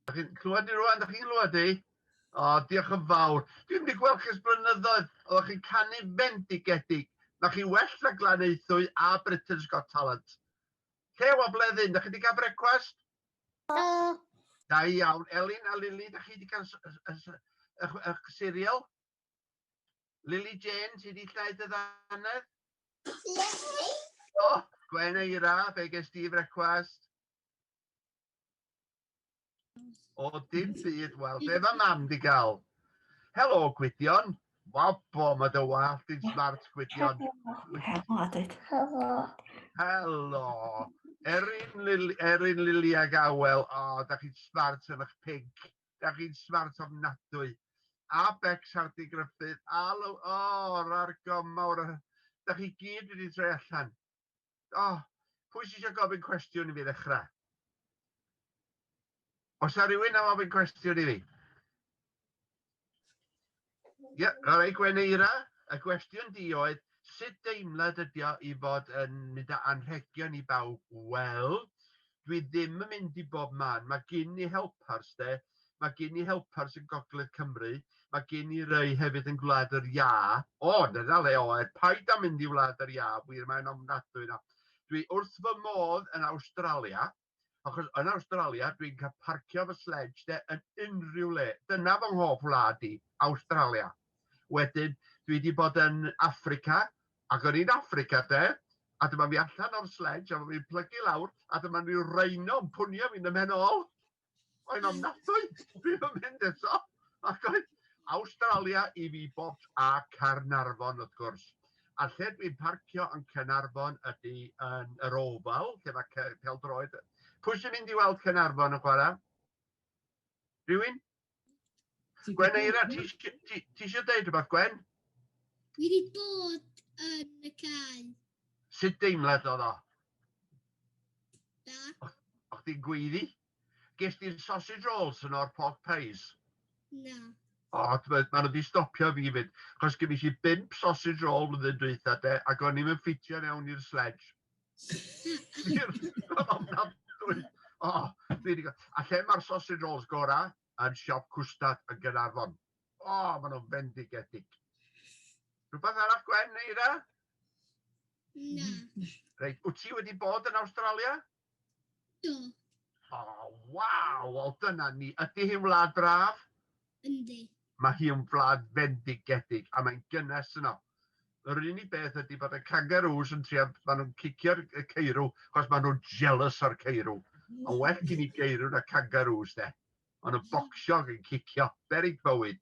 Dach chi'n clywed ni rwan? Dach chi'n clywed i? O, diolch yn fawr. Dwi'n wedi gweld chi'n blynyddoedd, oeddech chi'n canu fendigedig. Mae chi well na Glanaethwy a Britain's Got Talent. Lle o bleddyn, dach chi wedi cael brecwast? Do. Da iawn. Elin a Lili, dach chi wedi cael eich cereal? Lily Jane, ti di llaeth y ddannedd? Ne. O, oh, Gwen Eira, be ges di frecwast? O, dim byd, wel, be mae mam di gael? Helo, Gwydion. Wabo, mae dy wallt yn smart, Gwydion. Helo, Adyd. Helo. Helo. Erin, Lili, Erin Lili ag Awel, o, oh, da chi'n smart yn eich pig. da chi'n smart ofnadwy. A Bex Hardy Gruffydd, a Lo... O, oh, rar gomawr, da chi gyd wedi troi allan. O, oh, pwy sy'n eisiau gofyn cwestiwn i fi ddechrau? Os yna rhywun am ofyn cwestiwn i fi? Ie, yeah, all right, Gweneira, y gwestiwn di oedd, sut deimlad ydi o i fod yn mynd â anrhegion i bawb? Wel, dwi ddim yn mynd i bob man. Mae gen i helpers, de. Mae gen i helpers yn Gogledd Cymru. Mae gen i rei hefyd yn Gwlad yr Ia. O, dyna le oed, paid â mynd i Wlad yr Ia, wir mae'n ofnadwy na. Dwi wrth fy modd yn Awstralia, Achos yn Awstralia, dwi'n cael parcio fy sledge de yn unrhyw le. Dyna fy nghof wlad i, Awstralia. Wedyn, dwi wedi bod yn Africa, ac o'n i'n Africa de, a dyma fi allan o'r sledge, a fi'n plygu lawr, a dyma rhyw rhino yn pwnio fi'n ymhen ôl. Mae'n ofnadwy, ddim yn mynd eto. Ac oedd Awstralia i fi bobs a Caernarfon wrth gwrs. A lle dwi'n parcio yn Caernarfon ydy yn yr Oval, lle mae peldroed. Pwy sy'n mynd i weld Caernarfon yn chwarae? Rhywun? Gwen Eira, ti eisiau dweud rhywbeth, Gwen? Dwi wedi bod yn y cae. Sut deimlad oedd o? Da. O'ch ti'n gweiddi? Ges di'r sausage rolls yn o'r pork pies? Na. O, mae nhw wedi stopio fi fyd. Chos gen i bimp sausage roll flwyddyn dwytha de, ac o'n i'n ffitio mewn i'r sledge. o, fi wedi gweld. A lle mae'r sausage rolls gora? Yn siop cwstad yn Gynarfon. O, maen nhw'n fendigedig. Rhywbeth arall gwen, Eira? Na. Reit, wyt ti wedi bod yn Australia? Do. O, waw! Wel, dyna ni. Ydy hi'n wlad braf? Yndi. Mae hi yn wlad fendigedig, a mae'n gynnes yno. Yr unig beth ydy bod y kangaroos yn trio, maen nhw'n cicio'r ceirw, achos maen nhw'n jealous o'r ceirw. A well gen i geirw na kangaroos, de. Ond y bocsio yn cicio, berig bywyd.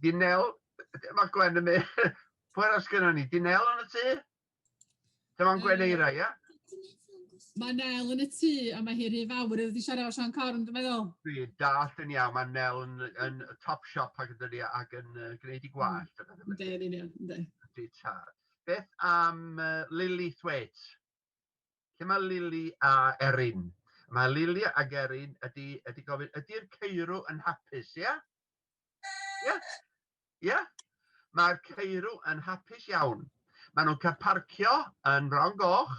Dinel, mae Gwen yn mynd, pwy'r as gyda ni, dinel yn y tŷ? Dyma'n Gwen Eira, ie? Mae Nel yn y tŷ a mae hi rhy fawr iddo wedi siarad o Sean Corn, dwi'n meddwl. Dwi dall yn iawn, mae Nel yn, yn top shop ac yn dydi ac yn uh, gwneud i gwallt. Ynddi, yn union, ynddi. Ynddi tad. Beth am uh, Lily Thwaite? Lle mae Lily a Erin? Mae Lily a Erin ydy, ydy gofyn, ydy'r ceirw yn hapus, ie? Yeah? Ie? Yeah? Ie? Yeah? Mae'r ceirw yn hapus iawn. Maen nhw'n cael parcio yn Fron Goch,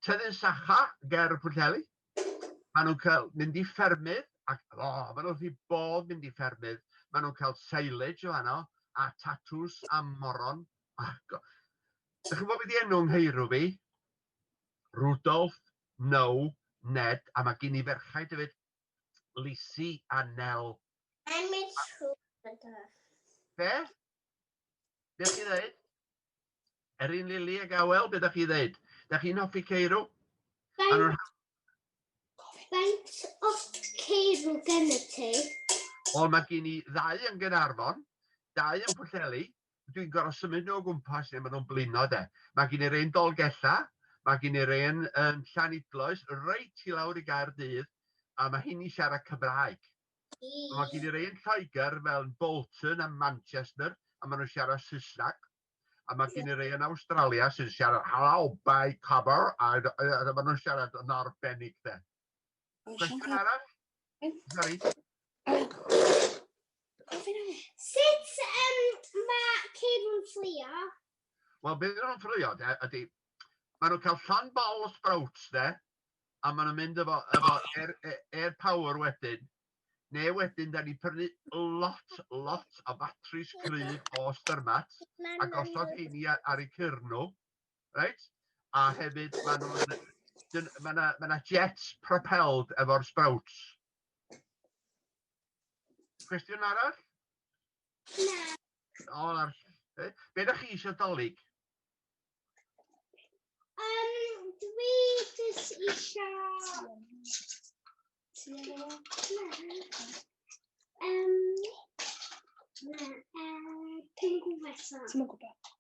tyddyn sacha ger y Pwllheli. Maen nhw'n cael mynd i ffermydd, ac o, oh, maen nhw'n rhi bodd mynd i ffermydd. Maen nhw'n cael silage o fanno, a tatws a moron. Ac, ydych chi'n bod wedi enw ngheirw fi? Rudolf, No, Ned, a mae gen i ferchaid hefyd. Lisi a Nel. Mae'n mynd trwy gyda. Be? Be ydych chi ddeud? Erin Lili a Gawel, be ydych chi ddeud? Da chi'n hoffi Ceirw? Faint o ceirw gen y ti? Wel, mae gen i ddau yn Gynarfon, dau yn Pwllheli, dwi'n gorfod symud nhw o gwmpas lle maen nhw'n blino de. Mae gen i'r un Dolgella, mae gen i'r un yn Llanidloes, reit i lawr i gair dydd, a mae hyn i siarad Cymraeg. Mae gen i'r un Lloegr fel Bolton a Manchester, a maen nhw'n siarad Saesneg. A mae gen i'r un Australia sy'n siarad Hello, by cover, a, a, a maen nhw'n siarad yn arbennig de. Cwestiwn arall? Sorry. Sut um, mae ceir yn fflio? Wel, beth nhw'n fflio, de, ydy, maen nhw'n cael llan bol o sprouts, de, a maen nhw'n mynd efo, efo air, air power wedyn. Neu wedyn, da ni prynu lot, lot o batris gryf o styrmat a gosod heini ar eu cyrn nhw. reit? A hefyd maen nhw'n... dyn- ma' 'na ma' 'na jets propelled efo'r sprouts. Cwestiwn arall? Na. O, na. Be, be da chi eisiau dolyg? Um, dwi jyst eisiau... Um, na, uh, pengwesa. Ti'n mwyn gwybod?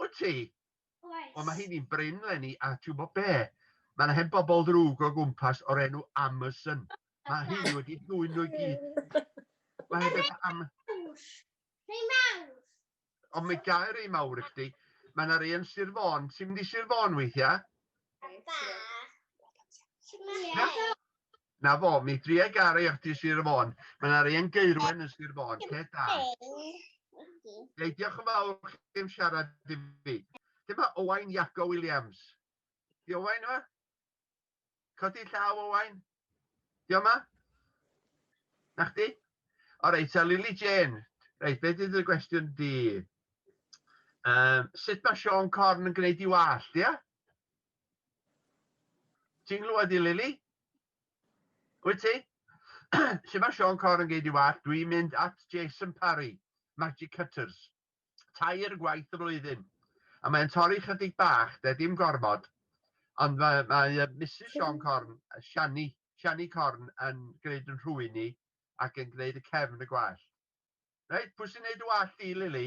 Wyt ti? Oes. Wel, mae hynny'n brin, Lenny, a ti'n gwybod be? Mae'n hen bobl ddrwg o gwmpas o'r enw Amazon. Mae hynny wedi dwy'n nhw i gyd. Mae hynny wedi am... Rhai mawr. Ond mae gael rhai mawr i chdi. Mae yna rei yn Sir Fôn. Ti'n mynd i Sir Fôn weithiau? Na fo, mi dria gar i ati Sir y Fôn. Mae yna rei yn geirwen yn Sir Fôn. Peth da. Ei, diolch yn fawr chi am siarad i fi. Dyma Owain Iago Williams. Di Owain yma? Codi llaw Owain? Di o'ma? Na chdi? O reit, a Lily Jane. Reit, beth ydy'r gwestiwn di? Um, sut mae Sean Corn yn gwneud i wallt, ia? Ti'n glwad i Lily? Wyt ti? Lle mae Sean Corn yn gwneud i wallt? Dwi'n mynd at Jason Parry, Magic Cutters. tair gwaith y flwyddyn. A mae'n torri chydig bach, de, dim gormod. Ond mae, mae uh, Mrs Sean Corn, Shani, Shani Corn, yn gwneud yn rhwy'n ni ac yn gwneud y cefn y gwallt. Reit, pwy sy'n gwneud y wallt i, Lili?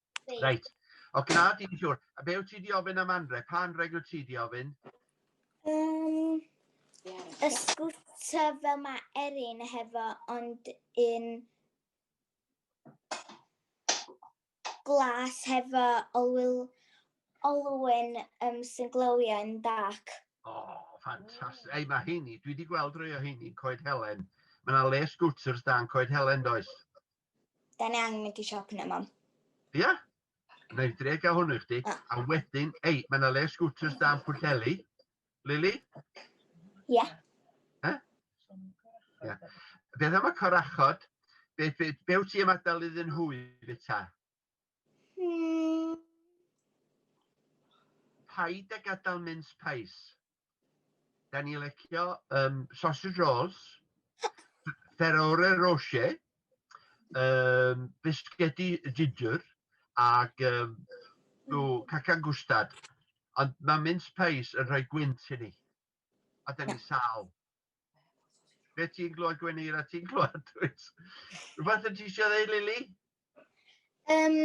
Reit. O, gna di'n siwr. A be wyt ti di ofyn am anreg? Pa anreg wyt ti di ofyn? Um, y sgwta fel mae Erin hefo, ond yn glas hefo olwyl, olwyn um, sy'n glywio yn dark. O, oh, ffantastig. Ei, mae heini, dwi wedi gweld rhai o heini, Coed Helen. Mae yna le scooters dan Coed Helen, does? Da ni angen mynd i siop yna, mam. Ia? Yeah? Mae'n dre gael hwnnw i chdi. Ah. A wedyn, ei, mae yna le sgwters dan Pwllheli. Lili? Ie. Yeah. Eh? Ie. Yeah. Beth am y corachod? Be, be, be wyt ti ymadael iddyn nhw i fita? Hmm. Paid a gadael mince pies. Da ni lecio um, sausage rolls, ferore roche, um, bisgedi ginger ac um, cacan gwstad. Ond mae mince pies yn rhoi gwynt i ni. A da ni sal. Be ti'n glywed Gwenir a ti'n glywed Dwys? Rhywbeth yn ti eisiau ddeud, Lili? Um,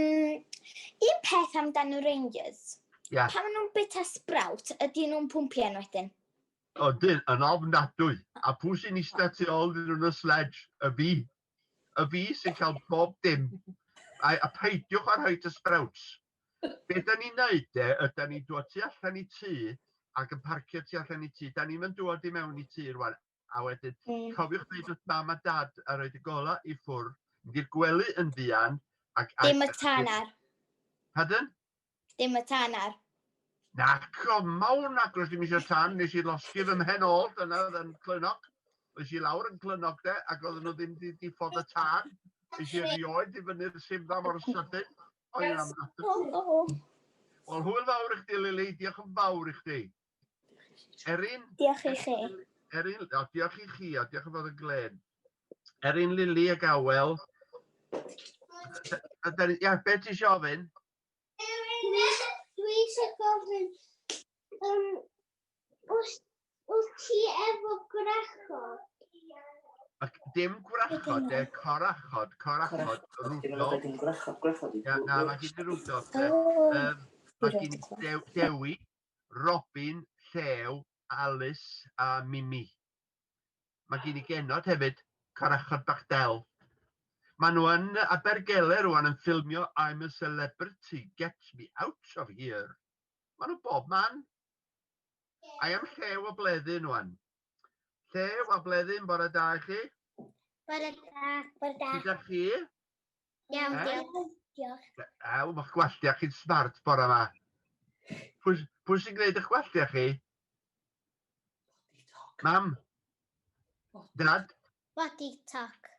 un peth amdano Rangers. Yeah. Pan maen nhw'n bita sprout, ydy nhw'n pwmpio yn wedyn. O, dyn, yn ofnadwy. A pwy sy'n eistedd tu ôl dyn nhw'n y sledge? Y fi. Y fi sy'n cael bob dim. A, a peidiwch ar hyd y sprouts. Be da ni'n neud de, yda ni'n dod tu allan i tŷ ac yn parcio tu allan i tŷ. Da ni'm yn dod i mewn i tŷ rwan. A wedyn, mm. cofiwch ddeud wrth mam a dad a roed y gola i ffwr, mynd i'r gwely yn fuan. Ac, Dim y tanar. Pardon? Dim y tanar. Na, comawn agos dim eisiau tan, nes i losgi fy mhen ôl, dyna oedd yn clynog. Nes i lawr yn clynog de, ac oedden nhw ddim wedi ffod y tan. Nes i rioed i fyny'r simdda mor sydyn. O ia, Wel, hwyl fawr i chdi, Lili. Diolch yn fawr i chdi. Erin? Diolch i chi. Erin, o, diolch i chi, a diolch yn fawr y Glen. Erin, Lili a Gawel. Ia, be ti eisiau ofyn? Erin, dwi eisiau gofyn, um, Wyt ti efo gwrachod? Ac dim gwrachod de, corachod, corachod, rwdol. Na, na, mae gen i rwdol. Um, mae gen i Dew, Dewi, Robin, Llew, Alice a Mimi. Mae gen i genod hefyd, corachod bach del. Mae nhw yn Abergele rwan yn ffilmio I'm a Celebrity, Get Me Out of Here. Mae nhw bob man. I am lle o bleddu nhw'n. Lle o bleddu yn bore da i chi? Bore da. Bore da. Gyda chi? Iawn, diolch. Diolch. Ew, mae'ch gwalltiau chi'n smart bore yma. Pwy sy'n gwneud eich gwalltiau chi? Mam? Dad? Body talk.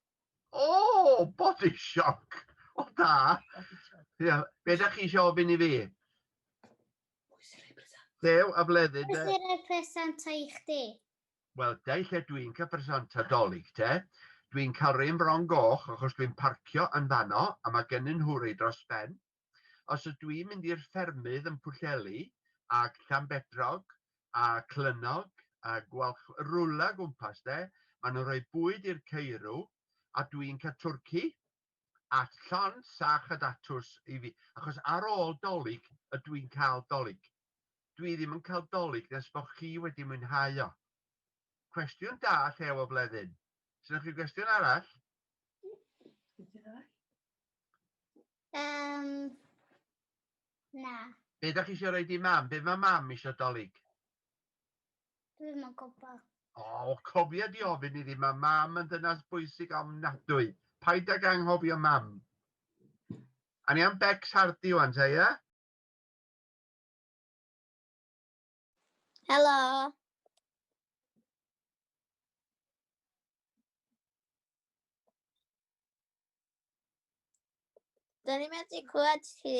O, oh, body shock. O, oh, da. Ia, be da chi eisiau ofyn i fi? Dew a bleddydd de. Beth yw'r presanta i chdi? Wel, dau lle dwi'n cael presanta dolyg te. Dwi'n cael rei yn Fron Goch achos dwi'n parcio yn fanno a mae gen nhw rei dros ben. Os ydw dwi'n mynd i'r ffermydd yn Pwllheli ac Llanbedrog a Clynnog a Gwalch rwla gwmpas de, maen nhw'n rhoi bwyd i'r ceirw a dwi'n cael twrci a llond sach a datws i fi, achos ar ôl Dolig ydw i'n cael Dolig. Dwi ddim yn cael Dolig nes bo chi wedi mwynhau o. Cwestiwn da llew o flethyn. Sgennoch chi gwestiwn arall? Um, na. Be da chi eisiau rhoi di mam? Be mae mam eisiau Dolig? Dwi ddim yn gwybod. O, oh, cofia di ofyn iddi, mae mam yn dynas bwysig ofnadwy. Paid ag anghofio mam. A ni am Bex Hardy o'n te, ie? Helo. Dyn ni'n medru clywed chi.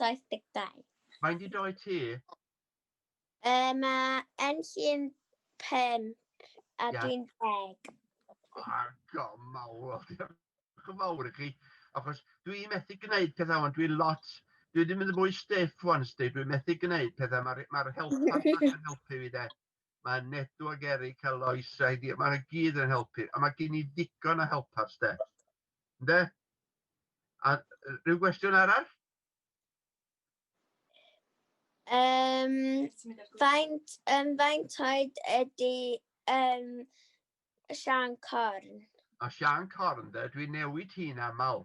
72. Mae'n di doi ti? Uh, mae Enlli'n 5 a yeah. dwi'n 10. Ar gom mawr, diolch yn fawr i chi. Achos dwi'n methu gwneud pethau ond dwi'n lot, dwi wedi mynd yn fwy stiff wan sti, dwi'n methu gwneud pethau, mae'r ma help yn helpu fi de. mae Nedu ac Eric a Lois a Heidi, mae nhw gyd yn helpu, a mae gen i ddigon o helpers, de. Ynde? A rhyw gwestiwn arall? Um, faint, um, faint oed ydy um, Sian Corn? A Sian Corn, de, dwi'n newid hi'n aml.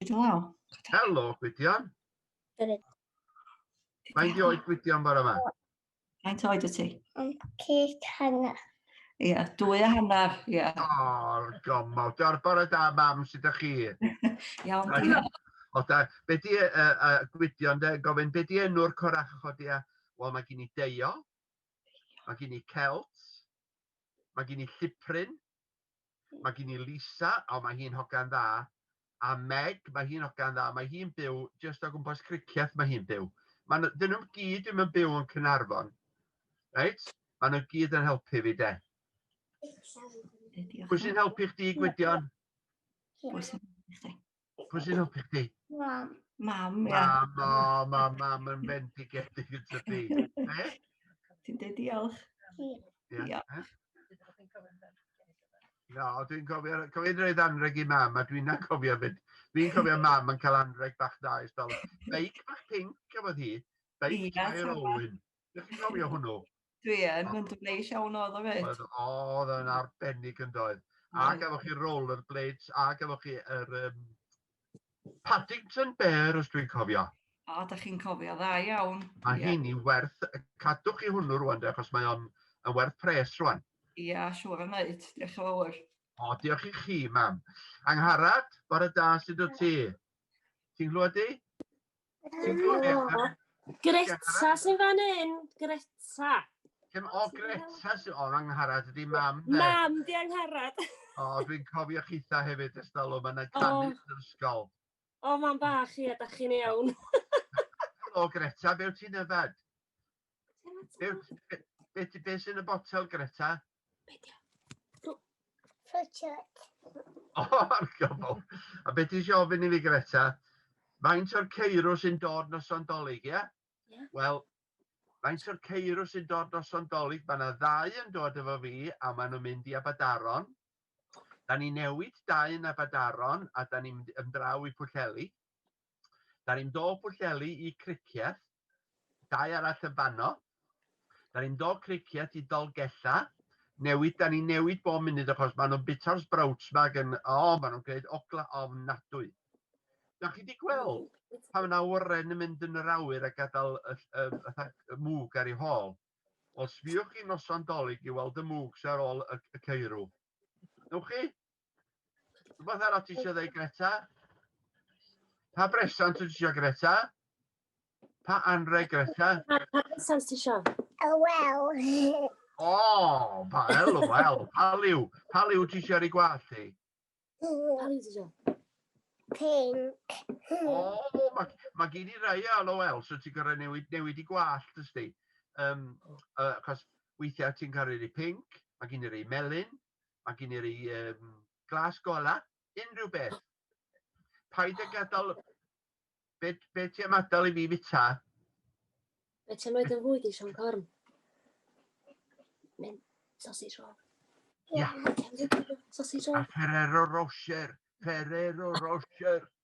Gwydion law. Helo, Gwydion. Gwydion. Mae'n di oed Gwydion bore yma? Mae'n oed y ti? Yn cyd hanner. Ie, yeah, dwy a hanner, ie. Yeah. O'r gomol. Diolch bore da, mam, sydd â chi? Iawn, diolch. O da, be di, uh, uh, Gwydion, de, gofyn, be di enw'r coracho di a... Wel, mae gen i deio, mae gen i celt, mae gen i llipryn, Mae gen i Lisa, o mae hi'n hogan dda, a Meg, mae hi'n hogan dda, mae hi'n byw jyst o gwmpas Cricieth mae hi'n byw. Mae nhw, dyn nhw'n gyd ddim yn byw yn Cynarfon. Reit? Mae nhw'n gyd yn helpu fi de. Pwy sy'n helpu chdi Gwydion? Pwy sy'n helpu chdi? Pwy sy'n helpu chdi? Mam. Mam, ia. Mam, o, mam, mam yn fendigedig yn tydi. Ti'n dweud diolch? Diolch. No, dwi'n cofio, cofio roedd anreg i mam, a dwi'n cofio fyd. Dwi'n cofio mam yn cael anreg bach da i stol. Beic bach pink, cafodd hi. Beic yeah, Tair Olwyn. Ydych chi'n cofio hwnnw? Dwi yn, mae'n dwbleis iawn oedd o fyd. Oedd yn arbennig yn doedd. A gafo chi roller blades, a gafo chi yr um, Paddington Bear, os dwi'n cofio. O, da chi'n cofio, dda iawn. Mae yeah. hyn i werth, cadwch chi hwnnw rwan, de, achos mae o'n yn werth pres rwan. Ia, yeah, siwr yn neud, diolch yn fawr. O, diolch i chi, mam. Angharad, bore da, sydd o ti? Ti'n glwad di? Greta sy'n fan hyn, Greta. Dim o Greta sy'n o'n angharad, ydy mam de. Mam di angharad. O, dwi'n cofio chitha hefyd ys dalw, mae'n na canu yn yr ysgol. O, mam bach i, a da chi'n iawn. Helo Greta, be wyt ti'n yfed? Beth be sy'n y botel, Greta? Fwtioed. O, ar gofol. A beth ti'n ofyn i fi, Greta? Faint o'r ceirw sy'n dod nos o'n dolyg, ie? Yeah? Wel, faint o'r ceirw sy'n dod nos o'n dolyg, mae yna ddau yn dod efo fi a maen nhw'n mynd i Abadaron. Da ni newid dau yn Abadaron a da ni'n mynd ymdraw i Pwllheli. Da ni'n dod Pwllheli i Cricieth Dau arall yn fanno. Da ni'n dod criciet i Dolgellau. Newid, da ni'n newid bob munud achos maen nhw'n bita'r sprouts ma gan... O, oh, maen nhw'n gwneud ogla ofnadwy. Da chi wedi gweld pan yna oren yn mynd yn yr awyr a gadael y, y, y, y mwg ar ei hôl? Os fiwch chi noson dolyg i weld y mwg sy'n ar ôl y, y ceirw, Ewch chi? Rhywbeth arall ti eisiau dweud, Greta? Pa bresant ti eisiau, Greta? Pa anreg, Greta? Pa bresant ti eisiau? Oh, well. O, oh, pa el, oh, well. Pa liw? Pa liw ti eisiau ei gwallt ti? Pa liw ti eisiau? Pink. O, oh, mae ma gen i rai o LOL, so ti'n gorau newid, newid i gwallt, ysdi. Um, uh, cos weithiau ti'n cael ei rei pink, mae gen i rei melyn, mae gen i rei um, glas gola, unrhyw beth. Paid â gadael... Be, be ti am adael i mi fita? Be ti'n mynd yn fwy di, Sean Corn? Mynd sausage roll. Ia. Sausage roll. A Ferrero Rocher. Ferrero Rocher.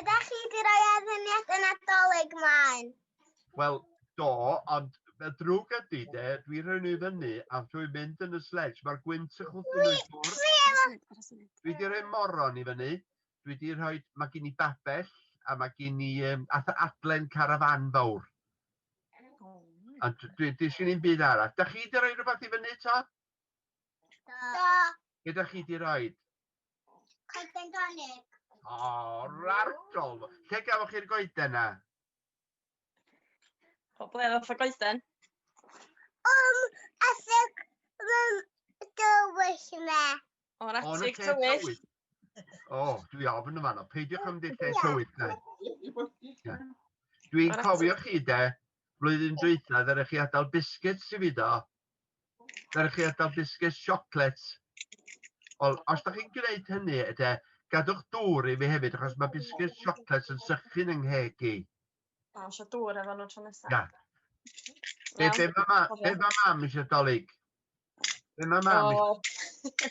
Ydych chi wedi rhoi adfyniad y Nadolig mlaen? Wel, do, ond y drwg ydy de, dwi rhoi nhw i fyny a dwi'n mynd yn y sledge, mae'r gwynt yn chwthu nhw i ffwrdd. Dwi wedi rhoi moron i fyny, dwi wedi rhoi, mae gen i babell a mae gen i um, adlen carafan fawr. A dwi, dwi sy'n un byd arall. Da chi wedi rhoi rhywbeth i fyny to? Do. Be da chi wedi rhoi? Coeden dolig. O, rargol. Lle gafwch chi'r goeden na? O ble oedd y goeden? Um, asig rym dywyll me. O'r atig tywyll. O, dwi ofn yma no. Peidiwch am ddillau tywyll na. Dwi'n cofio chi de, flwyddyn dwythau ddyrech chi adael biscuits i fi do. Merch chi adael biscuits, chocolates. Ond os da chi'n gwneud hynny, ydy, gadwch dŵr i mi hefyd, achos mae biscuits, chocolates yn sychu'n yng ngheg i. O, eisiau dŵr efo nhw tro nesaf. Na. Be, be mae ma, be ma mam eisiau dolyg? Be mae mam eisiau?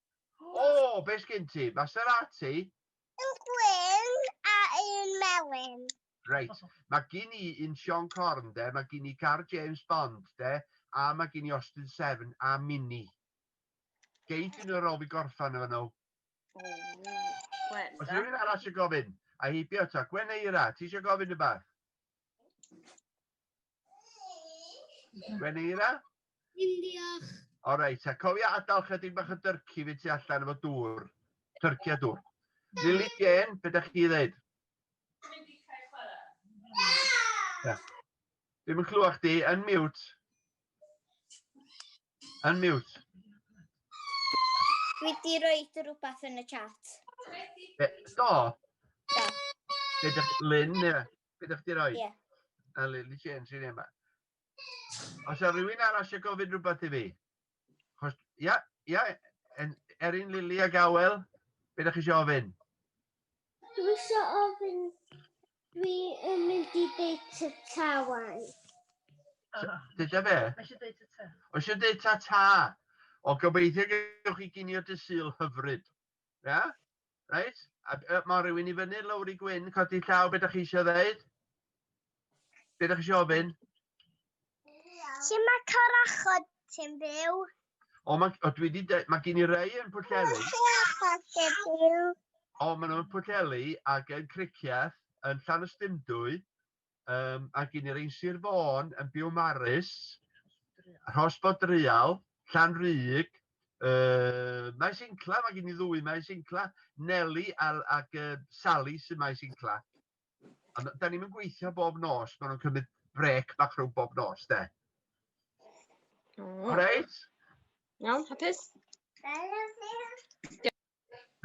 O, be sgyn ti? Maserati? Un gwyn a un melyn. Reit, mae gen i un Sean Corn de, mae gen i gar James Bond de, a mae gen i Austin Seven a Mini. Geid yn yr ôl fi gorffan efo nhw. Os rhywun arall sy'n gofyn, a heibio ta, Gwen Eira, ti eisiau gofyn y bath? Gwen Eira? Dim diolch. O reit, a cofia adael chydig bach o dyrci fi tu allan efo dŵr. Tyrci a dŵr. Lili Jen, be da chi ddeud? Dwi'n dechrau chwarae. Ddim yn clywach di, yn miwt. Yn miwt. Dwi di roed rhywbeth yn y chat. Be, do? Do. Be da chi, Lynn, Bydd eich di roi? Ie. A Lily Chen sy'n yma. Os yw rhywun arall eisiau gofyn rhywbeth i fi? Chos, ia, ia, Erin, Lily a Gawel, beth ydych chi eisiau ofyn? Dwi eisiau ofyn, dwi yn mynd i deud ta ta wan. Dyda fe? Mae eisiau deud ta ta. Mae eisiau deud ta ta. O, gobeithio gywch chi gynio dysil hyfryd. Ia? Reit, a uh, mae rhywun i fyny, Lowri Gwyn, codi llaw, beth ydych chi eisiau ddeud? Beth ydych chi eisiau ofyn? Lle mae corachod ti'n byw? O, mae, o, dwi wedi dweud, mae gen i rei yn Pwllheli. O, maen nhw'n Pwllheli ac yn Cricieth, yn Llanystumdwy, Um, a gyn i'r ein Sir Fôn yn byw Marys, Rhos Bodrial, Llan Rhyg, uh, Maes Incla, mae gen i ddwy Maes Incla, Nelly a, ac uh, Sally sy'n Maes Incla. A da ni'n gweithio bob nos, maen nhw'n cymryd brec bach rhwng bob nos, de. Oh. Reit? Iawn, hapus?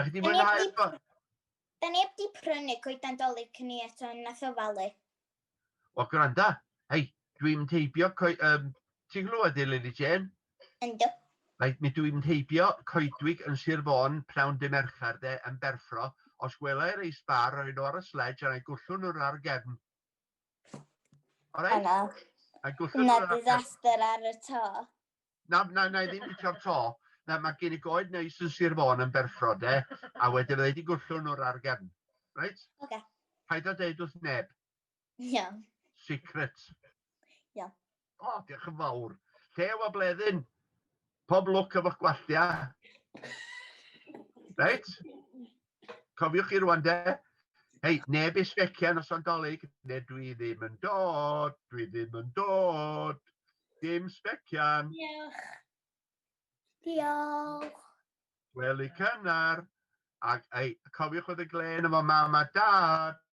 Da chi di mwynhau eto? Da ni heb di prynu coeden dolyg cyn i eto yn nath ofalu. O, gwranda. Hei, dwi'n teibio... Um, ti'n glywed i, Lily Jane? Ynddo. Mae, mi dwi'n teibio coedwig yn Sir Fôn pnawn dy Mercher de yn berffro. Os gwelai'r ei sbar, roi nhw ar y sledge a'n ei gwllwn nhw'r ar gefn. Alright? Yna. A gwllwn nhw'r ar gefn. Yna disaster ar y to. Na, na, na i ddim licio'r to. Na, mae gen i goed neis yn Sir Fôn yn berffro, de, a wedyn fydda i wedi gwllwn nhw'r argefn. Reit? Oce. Okay. Paid o deud wrth neb. Iawn. Secret. Iawn. O, oh, diolch yn fawr. Llew a bleddyn. Pob lwc efo'ch gwalltia. Reit? Cofiwch chi rwan de, hei, neb i sbecian os o'n dolyg, ne dwi ddim yn dod, dwi ddim yn dod, dim sbecian. Diolch. Diolch. Weli cynnar, ac ei, cofiwch oedd y glen efo mam a dad.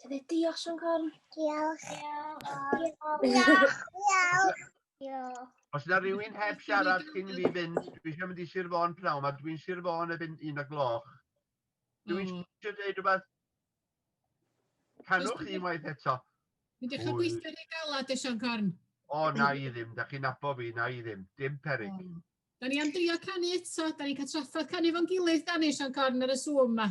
Tydde, diolch Sian Corn. Diolch. Diolch. Diolch. Diolch. Os yna rhywun heb siarad cyn fi fynd, dwi eisiau mynd i Sir Fôn pnawn, mae dwi'n Sir Fôn erbyn un o gloch. Dwi'n mm. eisiau dweud rhywbeth. Canwch chi waith eto. Dwi'n dechrau gweithio yn ei galad, Sian Corn. O, na i ddim, da chi'n abo fi, na i ddim. Dim perig. Oh. Da ni am drio canu eto, da ni'n cael traffodd canu fo'n gilydd, da ni, Sian Corn, ar y sŵm yma.